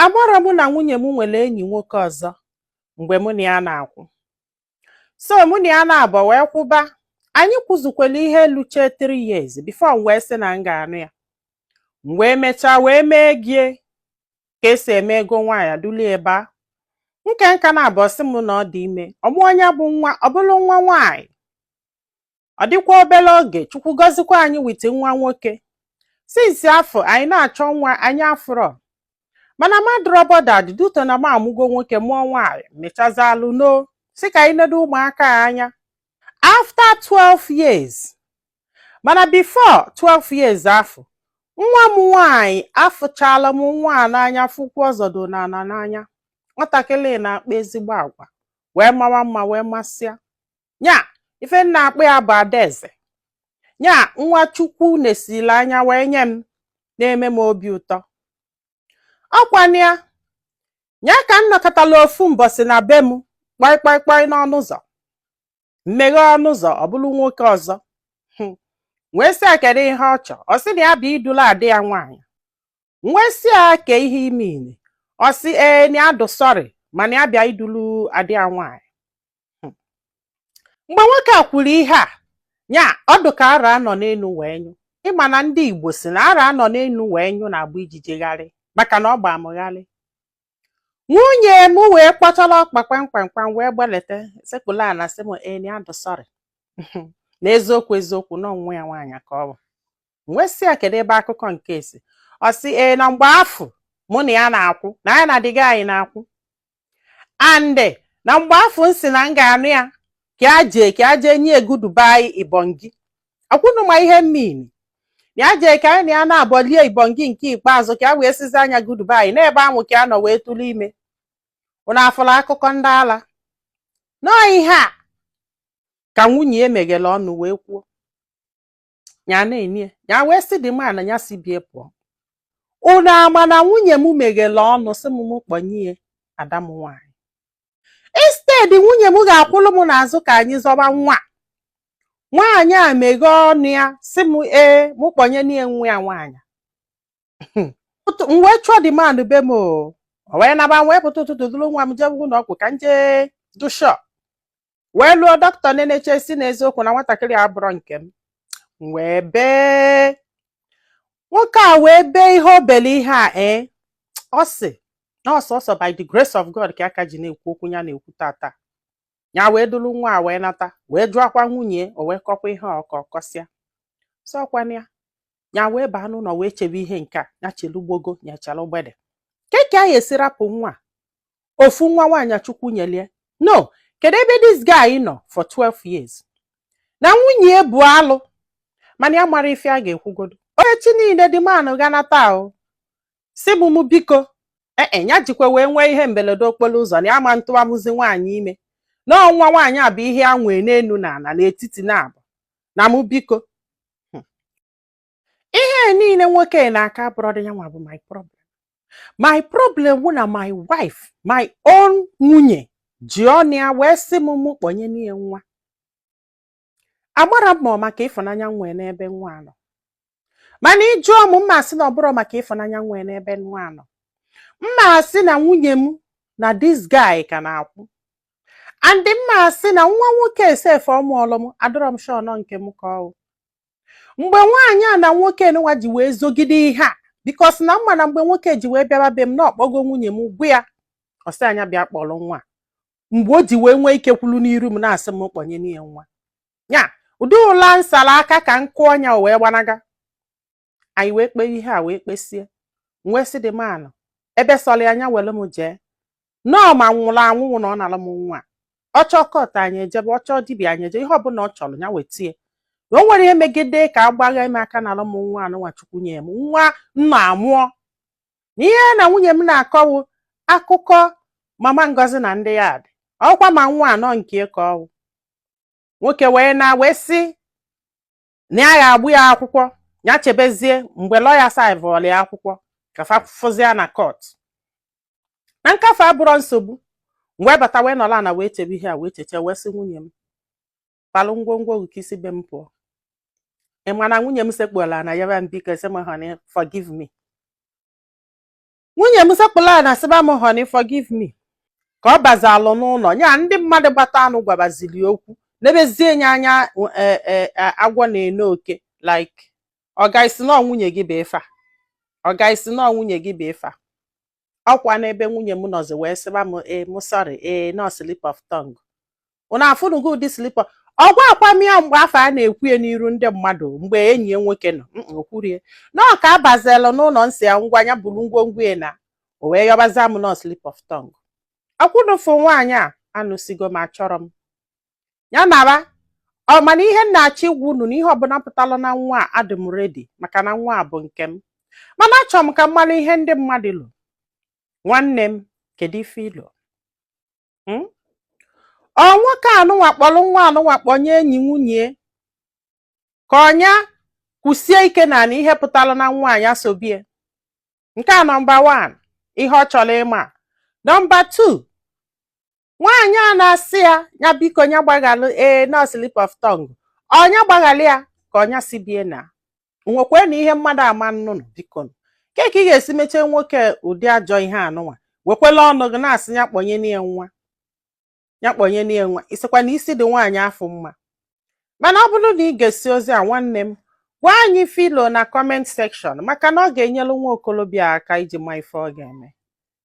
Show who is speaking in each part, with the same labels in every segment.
Speaker 1: amarọ mụ na nwunye m nwere enyi nwoke ọzọ mgbe mụ na ya na-akwụ so mụ na ya naabọ wee kwụba anyị kwụzukwara ihe luche 3 years before m wee sị na m ga-anụ ya m wee mechaa wee mee ego ya ka e si eme ego nwaanyị dulie ebe a nke nka naabọ ọ sị m na ọ dị ime ọ mụọ nya bụ nwa ọ bụrụ nwa nwaanyị ọ dịkwa obere oge chukwu gọzikwa anyị with nwa nwoke since afụ anyị na-achọ nwa anyị afụrọ mana m adịrọ bothered due to na m amụgo nwoke mụọ nwaanyị mechazalụ nọ sị ka anyị nedo ụmụaka a anya after 12 years mana before 12 years afụ nwa m nwaanyị afụchala m nwa a n'anya fụ ụkwụ ọ zọdo n'ana n'anya nwatakịrị na-akpa ezigbo agwa wee mawa mma wee masịa nya ife m na-akpọ ya bụ adaeze nya nwa chukwu nesili anya wee nye m na-eme m obi ụtọ ọkwanụ ya nya ka m nọkatala ofu mbọsị na be m kpọị kpọị kpọị n'ọnụ ụzọ m meghee ọnụ ụzọ ọ bụrụ nwoke ọzọ hmm. wee sị ya kedụ ihe ọ chọ ọ sị na ya bịa idulu ada ya nwaanyị wee sị ya ke ihe ị mean ọ sị ee na ya dụ sorry mana ya bịa idulu ada ya nwaanyị hmm. mgbe nwoke a kwuru ihe a nya ọ dụ ka arụ a nọ n'elu wee nyụ ị ma na ndị Igbo sị na arụ a nọ n'elu wee nyụ na-agba ijiji gharị maka na ọ gbaa mụ gharị nwunye m wee kpọtara ọkpa kpamkpamkpam wee gbaleta sekpulu ana sị m ee na ya dụ sorry na eziokwu eziokwu na ọ nwa ya nwaanyị ka ọ bụ m wee sị ya kedu ebe akụkọ nke a si ọ sị ee na mgbe afụ mụ na ya na-akwụ na ya na the guy na-akwụ and na mgbe afụ m sị na m ga-anụ ya ka ya jee ka ya jee nye ya goodbye ibongi ọkwa unu ma ihe m mean na ya jee ka anyị na ya naabọ lie ibongi nke ikpeazụ ka ya wee sịzịa nya goodbye n'ebe ahụ ka ya nọ wee tụrụ ime unu afụla akụkọ ndị ala na ọ ihe a ka nwunye ya meghere ọnụ wee kwuo ya na-enye ya wee sị the man a ya si be ya pụọ unu ama na nwunye m meghere ọnụ sị m m kpọnye ya ada m nwaanyị instead nwunye m ga-akwụrụ m n'azụ ka anyị zọba nwa nwaanyị a meghee ọnụ ya sị m ee m kpọnyenụ ya nwa ya nwaanyị m wee chụọ the man na be m ọ wee naba m wee pụta ụtụtụ duru nwa m jebe ụlọ ọgwụ ka m jee dụ sure wee luo doctor enechaa sị n'eziokwu na nwatakịrị a abụrọ nke m m wee bee nwoke a wee bee ihe o bele ihe a ee ọ sị na ọ sọọsọ by the grace of God ka ya ka ji na-ekwu okwu ya na-ekwu taata ya wee duru nwa a wee nata wee jụọkwa nwunye ya o wee kọkwa ihe ọ kọ kọsịa sị ọkwanụ ya ya wee baa n'ụlọ wee chebe ihe nke a ya chelugbogo nyechara ogbede kee ka esi rapụ nwa ofu nwa nwaanyị chukwu nyelie no kedu ebe this guy nọ for 12 years na nwunye ya bụ alụ mana ya mara ife a ga-ekwugodo onye chi niile the man ganata ahụ si m m biko ee e, ya jikwa wee nwee ihe mberede okporo ụzọ na ya ama atụwanwuzi nwaanyị ime na ọ nwa nwaanyị a bụ ihe ya nwee n'elu na ala n'etiti na abụ na mụ biko hmm. ihe niile nwoke a na-akọ abụrọdị ya nwa bụ my problem my problem wụ na my wife my own nwunye ji ọnụ ya wee sị m mụ kpọnyenụ ya nwa agbara m maka ịfụnanya nwee n'ebe nwa nọ mana ị jụọ m mma asị na ọ bụrọ maka ịfụnanya nwee n'ebe nwa nọ mma asị na nwunye m na this guy ka na-akwụ and mma asị na nwa nwoke a sef ọ mụọlụ m adịrọ m sure na ọ nke m ka ọ wụ mgbe nwaanyị a na nwoke nwa ji wee zogide ihe a because na m ma na mgbe nwoke ji wee bịaba be m na ọ kpọgo nwunye m gwa ya ọ sị ya nya bịa kpọrọ nwa mgbe o ji wee nwee ike kwulu n'iru m na-asị m kpọnyenụ ya nwa ya ụdị ụla m sala aka ka m kụọ nya o wee gbanaga anyị wee kpee ihe a wee kpesie wee sị the man ebe sọrọ ya nya were m jee na ọ ma m nwụrụ anwụ wụ na ọ nara m nwa ọ chọọ court anyị ejebe ọ chọọ dibịa anyị eje ihe ọbụla ọ chọrọ ya wetie na o nwere ihe megide ka a gbagha m aka nara m nwa anụnwa chukwu nye m nwa nna amụọ na ihe na nwunye m na-akọ wụ akụkọ mama ngozi na ndị yard ọkwa ma nwa a na ọ nke m ka ọ wụ nwoke wee na wee sị na ya ga-agba ya akwụkwọ ya chebezie mgbe lawyer servelụ ya akwụkwọ ka fa fụzịa na court na nke afụ abụrọ nsogbu m wee bata wee nọlụ ana wee chebe ihe a wee cheche wee sị nwunye m palụ ngwongwo gị ka i si be m pụọ ị ma na nwunye m sekpulu ana yọba m biko sị m honey forgive me nwunye m sekpulu ana sịba m honey forgive me ka ọ bazialụ n'ụlọ ya ndị mmadụ gbatanụ gwabaziri okwu nebezie nye anya e, e, e, agwọ na-ene oke like ọga ị sị na ọ nwunye gị bụ ife a ọga ị sị na ọ nwunye gị bụ ife a ọkwa n'ebe nwunye m nọzi wee sịba m ee I'm sorry ee na ọ slip of tongue unu afụnugo ụdị slip a ọ gwaakwa m ya mgbe afụ ọ na-ekwu ya n'iru ndị mmadụ mgbe enyi ya nwoke nọ o kwurọ ya na ọ ka ọ bazelu n'ụlọ m sị ya ngwa ya buru ngwongwo ya naa o wee yọbazia m na ọ slip of tongue okwu n'ofu nwaanyị a anụsigo m achọrọ m ya naa o mana ihe m na-achọ ịgwa unu na ihe ọbụla pụtara na nwa a adị m ready maka na nwa a bụ nke m mana achọrọ m ka m mara ihe ndị mmadụ lo nwanne m kedu ife i lo hmm? ọ nwoke anụnwa kpọrọ nwa anụnwa kpọnye enyi nwunye ka ọ nya kwụsie ike na na ihe pụtara na nwaanyị asobie nke a nọmba 1 ihe ọ chọrọ ịma nọmba 2 nwaanyị a na-asị ya nya biko nya gbaghalụ ee eh, na ọ slip of tongue ọ nya gbaghalị ya ka ọ nya si bie na nwekwee na ihe mmadụ ama anụ nụ biko nụ. ke ka ị ga-esi mechaa nwoke ụdị ajọ ihe anụnwa wekwela ọnụ gị na-asị ya kpọnye n'ihe nwa ya kpọnye n'ihe nwa ị sịkwa na isi dị nwaanyị afụ mma mana ọ bụrụ na ị gesịa ozi a nwanne m gwa anyị ife i lo na comment section maka na ọ ga-enyelụ nwa okolobịa aka iji ma ife ọ ga-eme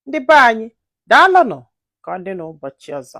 Speaker 1: ndị be anyị daalụnụ ka ọ dị n'ụbọchị ọzọ